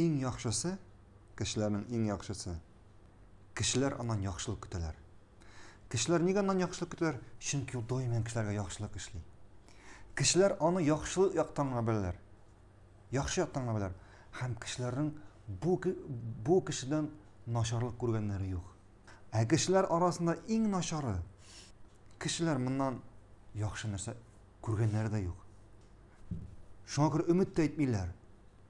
Иң яхшысы, кешеләрнең иң яхшысы, кешеләр аннан яхшылык көтәләр. Кешеләр нигә аннан яхшылык көтәләр? Чөнки ул даими кешеләргә яхшылык эшли. Кешеләр аны яхшылык яктан гына беләләр. Яхшы яктан гына беләләр. Һәм кешеләрнең бу, бу кешедән начарлык күргәннәре юк. Ә кешеләр арасында иң начары, кешеләр моннан яхшы нәрсә күргәннәре дә юк. Шуңа күрә өмет тә итмиләр.